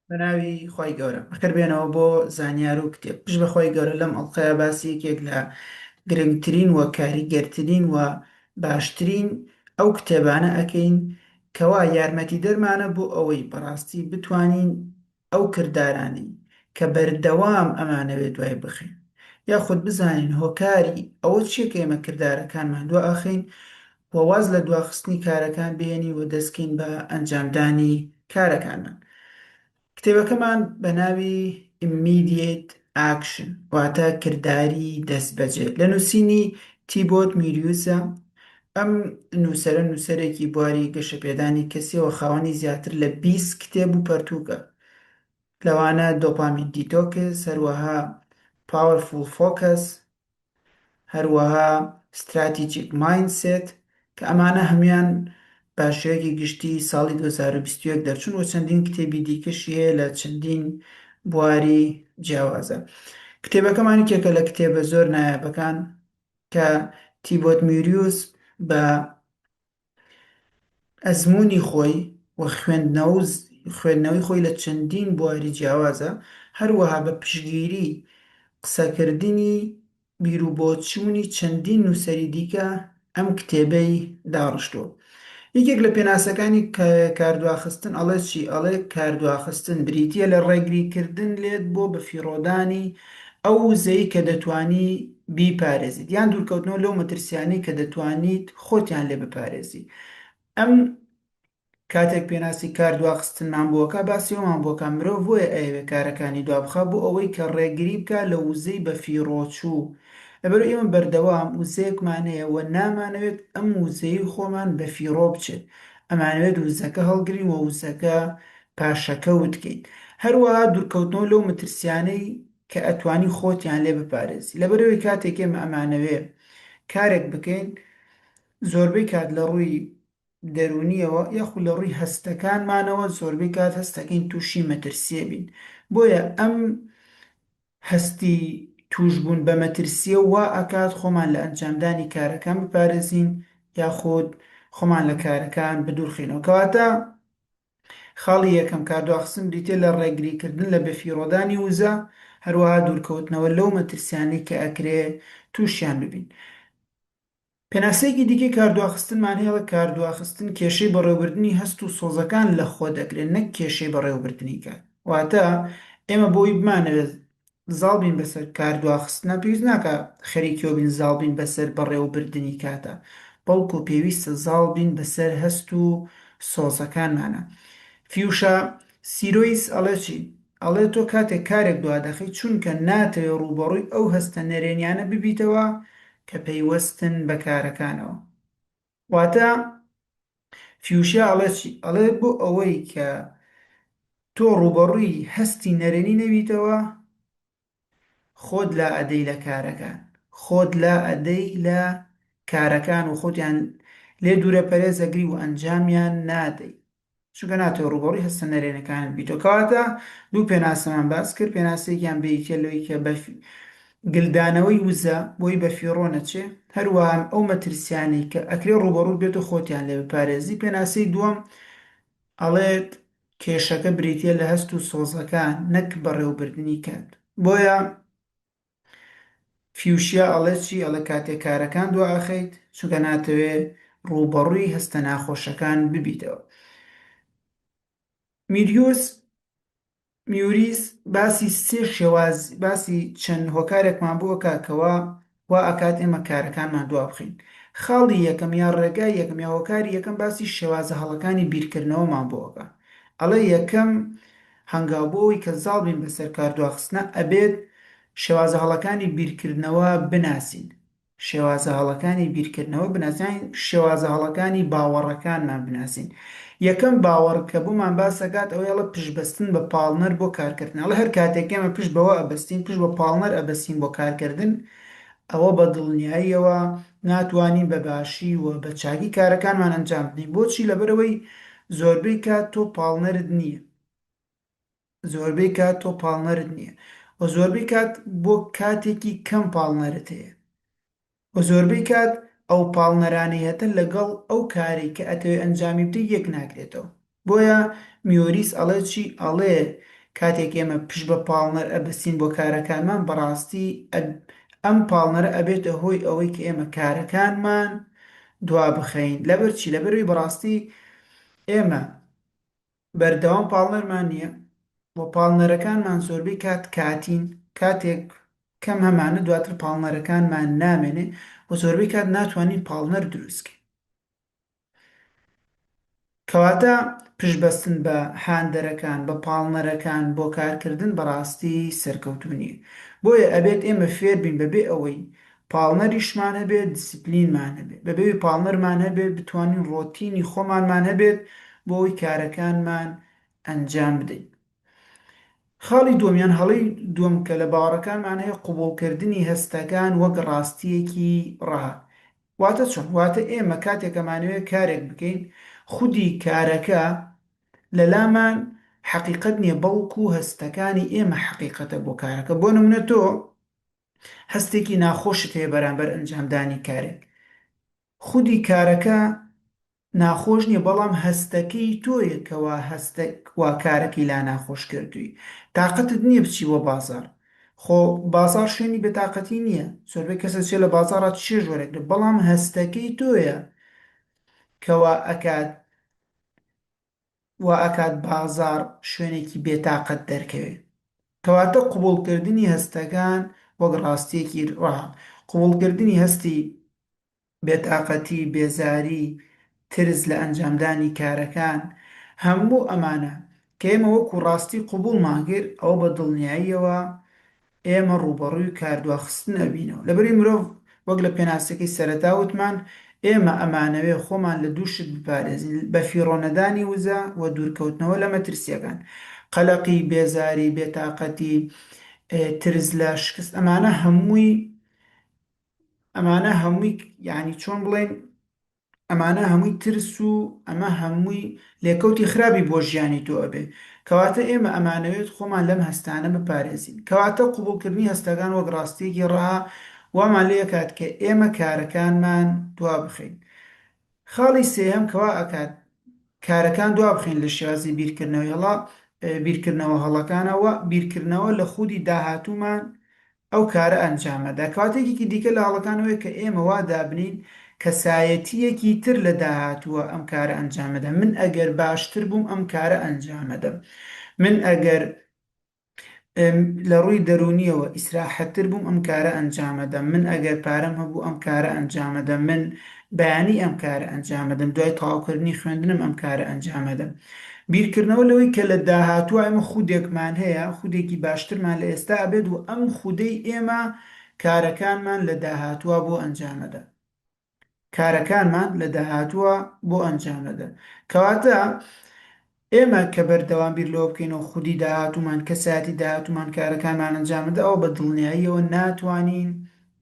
بەناوی خی گەورە ئەخر بێنەوە بۆ زانیار و کتێب پش بەخوای گەورە لەم ئەڵلقەیە باسی یەکێک لە گرنگترین و کاریگەرترین و باشترین ئەو کتێبانە ئەەکەین کەوا یارمەتی دەرمانە بۆ ئەوەی بەڕاستی بتوانین ئەو کردارانەی کە بەردەوام ئەمانەوێت دوای بخەین یاخود بزانین هۆکاری ئەوە چیە کە ئێمە کردارەکانمان دوا ئەخەین و واز لە دواخستنی کارەکان بهێنین و دەستکەین بە ئەنجامدانی کارەکانمان کتێبەکەمان بە ناوی Immediate Action واتە کرداری دەستبەجێ لە نووسینی تیبۆت میریوزە ئەم نووسەرە نووسەرێکی بواری گەشەپێدانی کەسییەوە خاوەنی زیاتر لە بیست کتێب و پەرتووکە لەوانە دۆپامین دیتۆکس هەروەها پاوەرفوڵ فۆکەس هەروەها ستراتیجیک مایند سێت کە ئەمانە هەموویان بە شێوەیەکی گشتی ساڵی دوو هەزار و بیست و یەک دەرچوون و چەندین کتێبی دیکەشی هەیە لە چەندین بواری جیاوازە کتێبەکەمان یەکێکە لە کتێبە زۆر نایابەکان کە تیبۆت میوریوس بە ئەزموونی خۆی و خوێندنەوەی خۆی لە چەندین بواری جیاوازە، هەروەها بە پشتگیری قسەکردنی بیروبۆچوونی چەندین نووسەری دیکە ئەم کتێبەی داڕشتووە. یەکێک لە پێناسەکانی کاردواخستن ئەڵێت چی؟ ئەڵێ کاردواخستن بریتییە لە ڕێگریکردن لێت بۆ بەفیڕۆدانی ئەو وزەی کە دەتوانی بیپارێزیت یان دوورکەوتنەوە لەو مەترسیانەی کە دەتوانیت خۆتیان لێ بپارێزی ئەم کاتێک پێناسی کاردواخستنمان بۆکە باسی ئەومان بۆکە مرۆڤ بۆیە ئەیەوێ کارەکانی دوابخا بۆ ئەوەی کە ڕێگری بکا لە وزەی بەفیڕۆچوو لەبەرئەوەی ئێمە بەردەوام وزەیەکمان هەیە و نامانەوێت ئەم وزەی خۆمان بەفیڕۆ بچێت، ئەمانەوێت وزەکە هەڵگرین و وزەکە پاشەکەوت کەین. هەروەها دوورکەوتنەوە لەو مەترسیانەی کە ئەتوانی خۆتیان لێ بپارێزی. لەبەرئەوەی کاتێک ئێمە ئەمانەوێ کارێک بکەین، زۆربەی کات لە ڕووی دەروونییەوە یاخود لە ڕووی هەستەکانمانەوە زۆربەی کات هەستەکەین تووشی مەترسییە بین. بۆیە ئەم هەستی تووشبوون بە مەترسییە وا ئەکات خۆمان لە ئەنجامدانی کارەکان بپارێزین یاخود خۆمان لە کارەکان بدوورخەینەوە. کەواتە خاڵی یەکەم، کاردواخستن بریتییە لە ڕێگریکردن لە بەفیڕۆدانی وزە، هەروەها دوورکەوتنەوە لەو مەترسیانەی کە ئەکرێ تووشیان ببین. پێناسەیەکی دیکەی کاردواخستنمان هەیە، کاردواخستن کێشەی بەڕێوەبردنی هەست و سۆزەکان لەخۆ دەگرێت نەک کێشەی بەڕێوەبردنی کات. واتە ئێمە بۆی بمانەوێت زاڵ بین بەسەر کاردواخستنە پێویست ناکا خەریکیەوە بین زاڵ بین بەسەر بەڕێوەبردنی کاتە بەڵکو پێویستە زاڵ بین بەسەر هەست و سۆزەکانمانە. فیوشا سیرۆیس ئەڵێ چی؟ ئەڵێ تۆ کاتێک کارێک دوادەخەی چونکە ناتەوێ ڕووبەڕووی ئەو هەستە نەرێنیانە ببیتەوە کە پەیوەستن بە کارەکانەوە واتە فیوشیا ئەڵێ چی ئەڵێ بۆ ئەوەی کە تۆ ڕووبەڕووی هەستی نەرێنی نەبیتەوە خۆت لا ئەدەی لە کارەکان خۆت لا ئەدەی لە کارەکان و خۆتیان لێ دوورە پەرێز ئەگری و ئەنجامیان نادەی چونکە ناتەوێ ڕووبەڕووی هەستە نەرێنەکانت بیتەوە کەواتە دوو پێناسەمان باس کرد پێناسەیەکیان بێیتە لەوەی کە بە گلدانەوەی وزە بۆی بە فیڕۆ نەچێ هەروەها ئەو مەترسیانەی کە ئەکرێ ڕووبەڕووت بێت و خۆتیان لێ بپارێزی پێناسەی دووەم ئەڵێت کێشەکە بریتیە لە هەست و سۆزەکان نەک بەڕێوەبردنی کات بۆیە فیوشیا ئەڵێت چی ئەڵێ کاتێ کارەکان دوا ئەخەیت چونکە ناتەوێ ڕووبەڕووی هەستە ناخۆشەکان ببیتەوە میریوس میوریس باسی سێ شێواز باسی چەند هۆکارێکمان بۆ ئەکات کەوا وا ئەکات ئێمە کارەکانمان دوا بخەین خاڵی یەکەم یا ڕێگای یەکەم یا هۆکاری یەکەم باسی شێوازە هەڵەکانی بیرکردنەوەمان بۆ ئەکا ئەڵێ یەکەم هەنگاو بۆ ئەوی کە زاڵ بین بەسەر کاردواخستنە ئەبێت شێوازە هەڵەکانی بیرکردنەوە بناسین شێوازە هەڵەکانی بیرکردنەوە بناسین، شێوازە هەڵەکانی باوەڕەکانمان بناسین. یەکەم باوەڕ کە بۆمان باس ئەکات ئەوەی ئەڵێ پشتبەستن بە پاڵنەر بۆ کارکردن. ئەڵێ هەر کاتێک ئێمە پشت بەوە ئەبەستین، پشت بە پاڵنەر ئەبەستین بۆ کارکردن، ئەوە بە دڵنیاییەوە ناتوانین بە باشی و بە چاکی کارەکانمان ئەنجام بدەین. بۆچی؟ لەبەرئەوەی زۆربەی کات تۆ پاڵنەرت نییە. زۆربەی کات تۆ پاڵنەرت نییە و زۆربەی کات بۆ کاتێکی کەم پاڵنەرت هەیە و زۆربەی کات ئەو پاڵنەرانەی هەتە لەگەڵ ئەو کارەی کە ئەتەوێ ئەنجامی بدەی یەک ناگرێتەوە بۆیە میۆریس ئەڵێ چی ئەڵێ کاتێک ئێمە پشت بە پاڵنەر ئەبەستین بۆ کارەکانمان بەڕاستی ئەم پاڵنەرە ئەبێتە هۆی ئەوەی کە ئێمە کارەکانمان دوا بخەین لەبەر چی لەبەروی بەڕاستی ئێمە بەردەوام پاڵنەرمان نییە و پاڵنەرەکانمان زۆربەی کات کاتین، کاتێک کەم هەمانە دواتر پاڵنەرەکانمان نامێنێ و زۆربەی کات ناتوانین پاڵنەر دروستکەین. کەواتە پشتبەستن بە هاندەرەکان، بە پاڵنەرەکان بۆ کارکردن بەڕاستی سەرکەوتوو نییە. بۆیە ئەبێت ئێمە فێربین بەبێ ئەوەی پاڵنەریشمان هەبێت دیسیپلینمان هەبێت بەبێ پاڵنەرمان هەبێت بتوانین ڕۆتینی خۆمانمان هەبێت بۆ ئەوەی کارەکانمان ئەنجام بدەین خاڵی دووەم یان هەڵەی دووەم کە لە باوەڕەکانمان هەیە قوبوڵکردنی هەستەکان وەک ڕاستیەکی ڕەها واتە چۆن واتە ئێمە کاتێکەمانەوێت کارێک بکەین خودی کارەکە لەلامان حەقیقەت نییە بەڵکو هەستەکانی ئێمە حەقیقەتە بۆ کارەکە بۆ نمونە تۆ هەستێکی ناخۆشت هەیە بەرامبەر ئەنجامدانی کارێک، خودی کارەکە ناخۆش نیە بەڵام هەستەکەی تۆیە کەوا هەستەک وا کارەکەی لا ناخۆش کردوی تاقەتت نیە بچی بۆ بازاڕ خۆ بازاڕ شوێنی بێ تاقەتی نیە زۆربەی کەس ئەچێ لە بازاڕا چێژ وەرەگرێ بەڵام هەستەکەی تۆیە کەوا ئەکات وا ئەکات بازاڕ شوێنێکی بێ تاقەت دەرکەوێ. کەواتە قبوڵکردنی هەستەکان وەک ڕاستیەکی ڕا، قبوڵکردنی هەستی بێ تاقەتی، بێزاری، ترس لە ئەنجامدانی کارەکان، هەموو ئەمانە کە ئێمە وەکو ڕاستی قبوڵمان کرد ئەوە بە دڵنیاییەوە ئێمە ڕووبەڕووی کاردواخستن ئەبینەوە. لەبری مرۆڤ وەک لە پێناسەکەی سەرەتا وتمان، ئێمە ئەمانەوێ خۆمان لە دوو شت بپارێزین، بە فیڕۆ نەدانی وزە و دوورکەوتنەوە لە مەترسییەکان. قەلەقی، بێزاری، بێتاقەتی، ترس لە شکست ئەمانە هەمووی ئەمانە هەمووی یانی چۆن بڵێین؟ ئەمانە هەمووی ترس و ئەمە هەمووی لێکەوتی خراپی بۆ ژیانی تۆ ئەبێ کەواتە ئێمە ئەمانەوێت خۆمان لەم هەستانە بپارێزین کەواتە قبوڵکردنی هەستەکان وەک ڕاستیەکی ڕەها وامان لێ ئەکات کە ئێمە کارەکانمان دوابخەین خاڵی سێهەم کەوا ئەکات کارەکان دوابخەین لە شێوازی بیرکردنەوەی هەڵا بیرکردنەوە هەڵەکانەوە بیرکردنەوە لە خودی داهاتوومان ئەو کارە ئەنجامەدا. کەواتە یەکێکی دیکە لە هەڵەکان ئەوەیە کە ئێمە وا دابنێین کەسایەتییەکی تر لە داهاتووە ئەم کارە ئەنجامەدا. من ئەگەر باشتر بووم ئەم کارە ئەنجامەدەم. من ئەگەر لە ڕووی دەروونییەوە ئیسراحەتتر بووم ئەم کارە ئەنجامەدەم. من ئەگەر پارەم هەبوو ئەم کارە ئەنجامەدەم. من بەیانی ئەم کارە ئەنجامەدەم، دوای تەواوکردنی خوێندنم ئەم کارە ئەنجامەدەم. بیرکردنەوە لەوەی کە لە داهاتووە ئێمە خودێکمان هەیە، خودێکی باشترمان لە ئێستا ئەبێت و ئەم خودەی ئێمە کارەکانمان لە داهاتووە بۆ ئەنجامەدا. کارەکانمان لە داهاتووە بۆ ئەنجامەدا. کەواتە ئێمە کە بەردەوام بیر لەوە بکەینەوە خودی داهاتوومان، کەسایەتی داهاتوومان کارەکانمان ئەنجام دەدا، ئەوا بە دڵنیاییەوە ناتوانین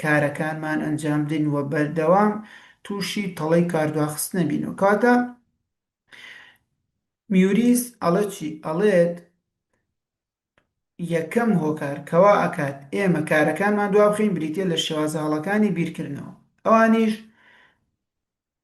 کارەکانمان ئەنجام بدەین و بەردەوام تووشی تەڵەی کاردواخستن نەبینەوە. کەواتە میوریس ئەڵێت چی؟ ئەڵێت یەکەم هۆکار کە وا ئەکات ئێمە کارەکانمان دوابخەین بریتییە لە شێوازە هەڵەکانی بیرکردنەوە، ئەوانیش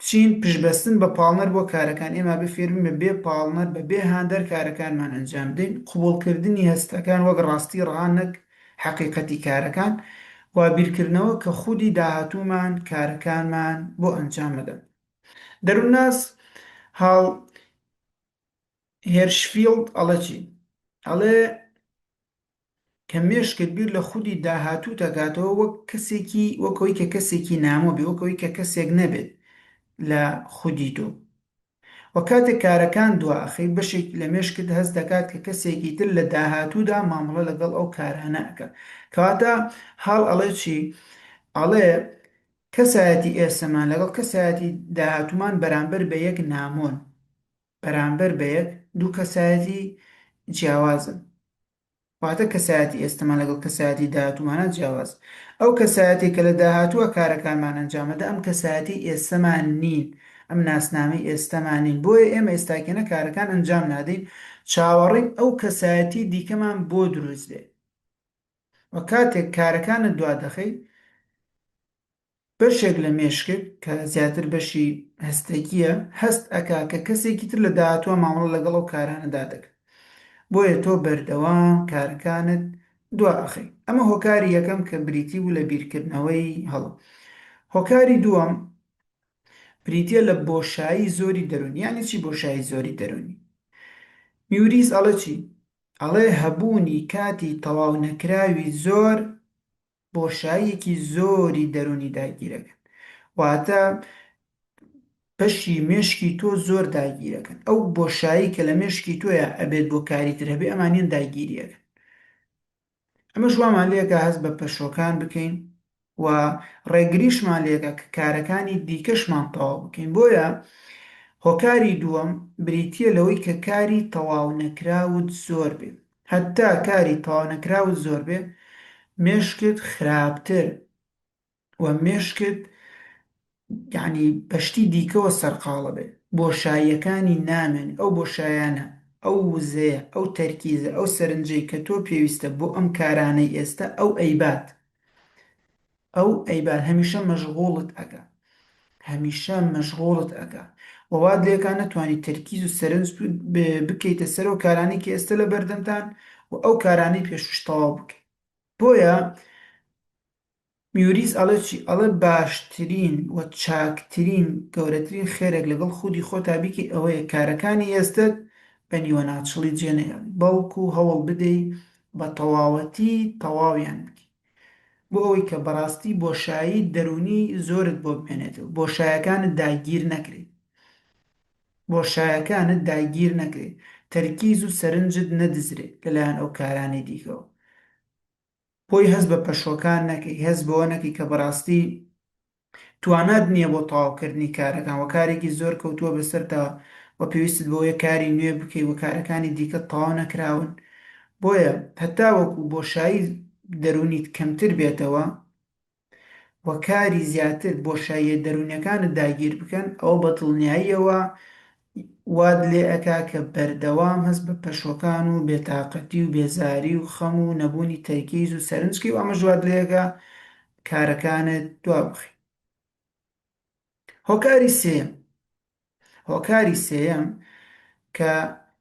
چین پشتبەستن بە پاڵنەر بۆ کارەکان، ئێمە ئەبێ فێربین بە بێ پاڵنەر، بە بێ هاندەر کارەکانمان ئەنجام بدەین، قبوڵکردنی هەستەکان وەک ڕاستی ڕەها نەک حەقیقەتی کارەکان، وا بیرکردنەوە کە خودی داهاتوومان کارەکانمان بۆ ئەنجام ئەدەن. دەروونناس هال هێرشفیڵد ئەڵێ چی؟ ئەڵێ. کە مێشکت بیر لە خودی داهاتووت ئەکاتەوە وەک کەسێکی وەک ئەوەی کە کەسێکی نامۆ بێ وەک ئەوەی کە کەسێک نەبێت لە خودی تۆ وە کاتێک کارەکان دوا ئەخەی بەشێک لە مێشکت هەست دەکات کە کەسێکی تر لە داهاتوودا مامەڵە لەگەڵ ئەو کارانە ئەکا کەواتە هاڵ ئەڵێ چی ئەڵێ کەسایەتی ئێستەمان لەگەڵ کەسایەتی داهاتوومان بەرامبەر بە یەک نامۆن بەرامبەر بە یەک دوو کەسایەتی جیاوازن، واتە کەسایەتی ئێستەمان لەگەڵ کەسایەتی داهاتوومانا جیاوازە. ئەو کەسایەتیە کە لە داهاتووە کارەکانمان ئەنجام ئەدا ئەم کەسایەتیەی ئێستەمان نین، ئەم ناسنامەی ئێستەمان نین، بۆیە ئێمە ئێستاکێنە کارەکان ئەنجام نادەین، چاوەڕێین ئەو کەسایەتی دیکەمان بۆ دروست بێ و کاتێک کارەکانت دوا دەخەی، بەشێک لە مێشکت کە زیاتر بەشی هەستەکییە هەست ئەکا کە کەسێکی تر لە داهاتووە مامەڵە لەگەڵ ئەو کارانەدا دەکا بۆیە تۆ بەردەوام کارەکانت دوا ئەخەی ئەمە هۆکاری یەکەم کە بریتی بوو لە بیرکردنەوەی هەڵە هۆکاری دووەم بریتیە لە بۆشایی زۆری دەرونی یانی چی بۆشایی زۆری دەرونی میوریس ئەڵە چی ئەڵێ هەبوونی کاتی تەواو نەکراوی زۆر بۆشاییەکی زۆری دەروونی داگیرەکەن واتە بەشی مێشکی تۆ زۆر داگیرەکەن ئەو بۆشایی کە لە مێشکی تۆیە ئەبێت بۆ کاری تر هەبێ ئەمانیان داگیریەکەن ئەمە ژوامان لێکە هەست بە پەشۆکان بکەین و ڕێگریشمان لێکە کە کارەکانی دیکەشمان تەواو بکەین بۆیە هۆکاری دووەم بریتە لەوەی کە کاری تەواو نەکراوت زۆر بێت هەتا کاری تەواونەکراوت زۆربێ مێشکت خراپتر و مێشکت یەعنی بەشتی دیکەوە سەرقاڵەبێ بۆشاییەکانی نامێنێ ئەو بۆشایانە ئەو وزەیە ئەو تەرکیزە ئەو سەرنجەی کەتۆ پێویستە بۆ ئەم کارانەی ئێستا ئەو ئەیبات ئەو ئەیبات هەمیشە مەژغوڵت ئەکا هەمیشە مەژغوڵت ئەکا و وات لێکا نەتوانی تەرکیز و سەرنج بکەیتە سەر ئەو کارانەی کە ئێستە لە بەردەمتان و ئەو کارانەی پێشووش تەواو بکەی بۆیە میوریس ئەڵێ چی ئەڵێ باشترین و چاکترین گەورەترین خێرێک لەگەڵ خودی خۆتا بیکەی ئەوەیە کارەکانی ئێستت بە نیوەناچڵی جێ نەهێڵی بەڵکو هەوڵ بدەی بە تەواوەتی تەواویان بکەی. بۆ ئەوەی کە بەڕاستی بۆشایی دەروونی زۆرت بۆ بمێنێت و بۆشایەکانت داگیر نەکرێت بۆشایەکانت داگیر نەکرێت تەرکیز و سەرنجت نەدزرێت لەلایەن ئەو کارانەی دیکەوە بۆی هەست بە پەشۆکان نەکەی هەست بەوە نەکەی کە بەڕاستی توانات نیە بۆ تەواو کردنی کارەکان وە کارێکی زۆر کەوتوە بەسەرتا وە پێویستت بەوەیە کاری نوێ بکەی وە کارەکانی دیکەت تەواو نەکراون بۆیە هەتاوەکو بۆشایی دەرونیت کەمتر بێتەوە وە کاری زیاتر بۆشاییە دەرونیەکانت داگیر بکەن ئەوە بەدڵنیاییەوە وات لێ ئەکا کە بەردەوام هەست بە پەشۆکان و بێ تاقەتی و بێزاری و خەم و نەبوونی تەرکیز و سەرنج کەی و ئەمەش وات لێ ئەکا کارەکانت دوا بخەی. هۆکاری سێیەم، هۆکاری سێیەم کە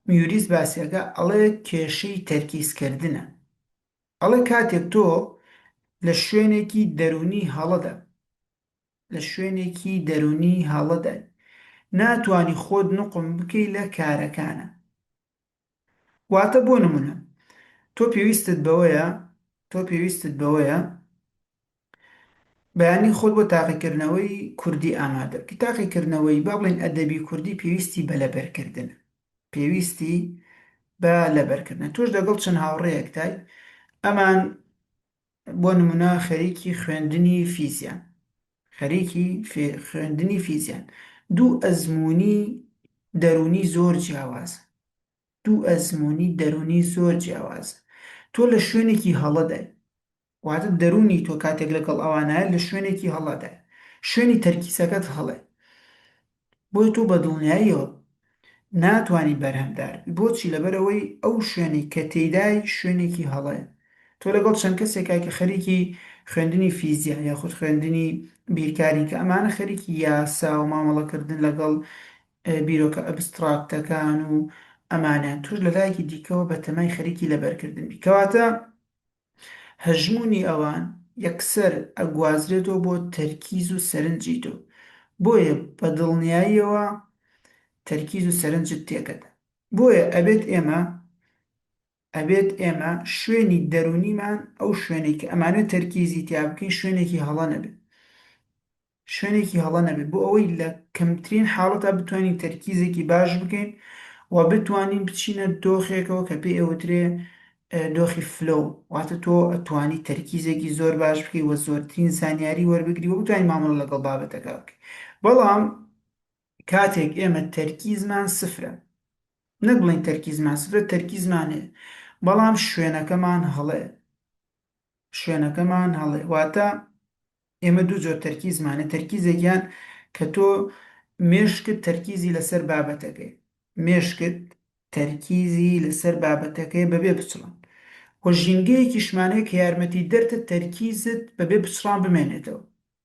میوریس باسی ئەکا ئەڵێ کێشەی تەرکیز کردنە ئەڵێ کاتێک تۆ لە شوێنێکی دەروونی هەڵەدا لە شوێنێکی دەروونی هەڵەدای ناتوانی خۆت نوقم بکەی لە کارەکانە واتە بۆ نمونە تۆ پێویستت بەوەیە تۆ پێویستت بەوەیە بەیانی خۆت بۆ تاقیکردنەوەی کوردی ئامادە بکەی تاقیکردنەوەی با بڵێن ئەدەبی کوردی پێویستی بە لەبەرکردنە پێویستی بە لەبەرکردنە تۆش دەگەڵ چەند هاوڕێیەکتای ئەمان بۆ نمونە خەریکی خوێندنی فیزیان خەریکی خوێندنی فیزیان دوو ئەزموونی دەروونی زۆر جیاوازە دوو ئەزموونی دەروونی زۆر جیاوازە تۆ لە شوێنێکی هەڵەدای واتە دەروونی تۆ کاتێک لەگەڵ ئەوانایە لە شوێنێکی هەڵەدای شوێنی تەرکیزەکەت هەڵێ بۆیە تۆ بە دڵنیاییەوە ناتوانی بەرهەمدار بی بۆچی لەبەرئەوەی ئەو شوێنەی کە تێیدای شوێنێکی هەڵەیە تۆ لەگەڵ چەند کەسێکای کە خەریکی خوێندنی فیزیا یاخود خوێندنی بیرکارین کە ئەمانە خەریکی یاسا و مامەڵەکردن لەگەڵ بیرۆکە ئەبستڕاکتەکان و ئەمانەن توش لەلایەکی دیکەوە بەتەمای خەریکی لەبەرکردن بی کەواتە هەژموونی ئەوان یەکسەر ئەگوازرێتەوە بۆ تەرکیز و سەرنجی تۆ، بۆیە بە دڵنیاییەوە تەرکیز و سەرنجت تێکەدەن. بۆیە ئەبێت ئێمە ئەبێت ئێمە شوێنی دەروونیمان، ئەو شوێنەی کە ئەمانەوێت تەرکیزی تیا بکەین، شوێنێکی هەڵە نەبێت. شوێنێکی هەڵە نەبێت بۆ ئەوەی لە کەمترین حاڵەتا بتوانین تەرکیزێکی باش بکەین و بتوانین بچینە دۆخێکەوە کە پێ ئەوترێ دۆخی فلۆ واتە تۆ ئەتوانی تەرکیزێکی زۆر باش بکەی وە زۆرترین زانیاری وەربگری و بتوانین مامەڵە لەگەڵ بابەتەکە بکەین بەڵام کاتێک ئێمە تەرکیزمان سفرە نەک بڵین تەرکیزمان سفرە تەرکیزمانێ بەڵام شوێنەکەمان هەڵێ شوێنەکەمان هەڵێ واتە ئێمە دوو جۆر تەرکیزمانە، تەرکیزێکیان کە تۆ مێشکت تەرکیزی لەسەر بابەتەکەیە، مێشکت تەرکیزی لەسەر بابەتەکەیە بەبێ پچڕان، و ژینگەیەکیشمان هەیە کە یارمەتیدەرتە تەرکیزت بەبێ پچڕان بمێنێتەوە،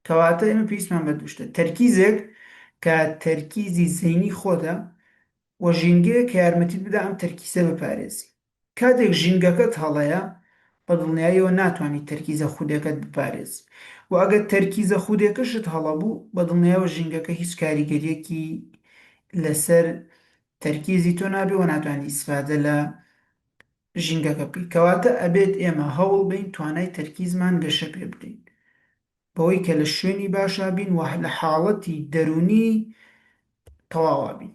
کەواتە ئێمە پێویستمان بە دوو شتە، تەرکیزێک کە تەرکیزی زەینی خۆتە، و ژینگەیەک کە یارمەتیت بدا ئەم تەرکیزە بپارێزی. کاتێک ژینگەکەت هەڵەیە، بە دڵنیاییەوە ناتوانیت تەرکیزە خودەکەت بپارێزی و ئەگەر تەرکیزە خودەکەشت هەڵە بوو، بە دڵنیایەوە ژینگەکە هیچ کاریگەرییەکی لەسەر تەرکیزی تۆ نابێت و ناتوانیت ئیسفادە لە ژینگەکە بکەیت. کەواتە ئەبێت ئێمە هەوڵ بەین توانای تەرکیزمان گەشە پێ بدەین بەوەی کە لە شوێنی باشا بین و لە حاڵەتی دەروونی تەواوا بین.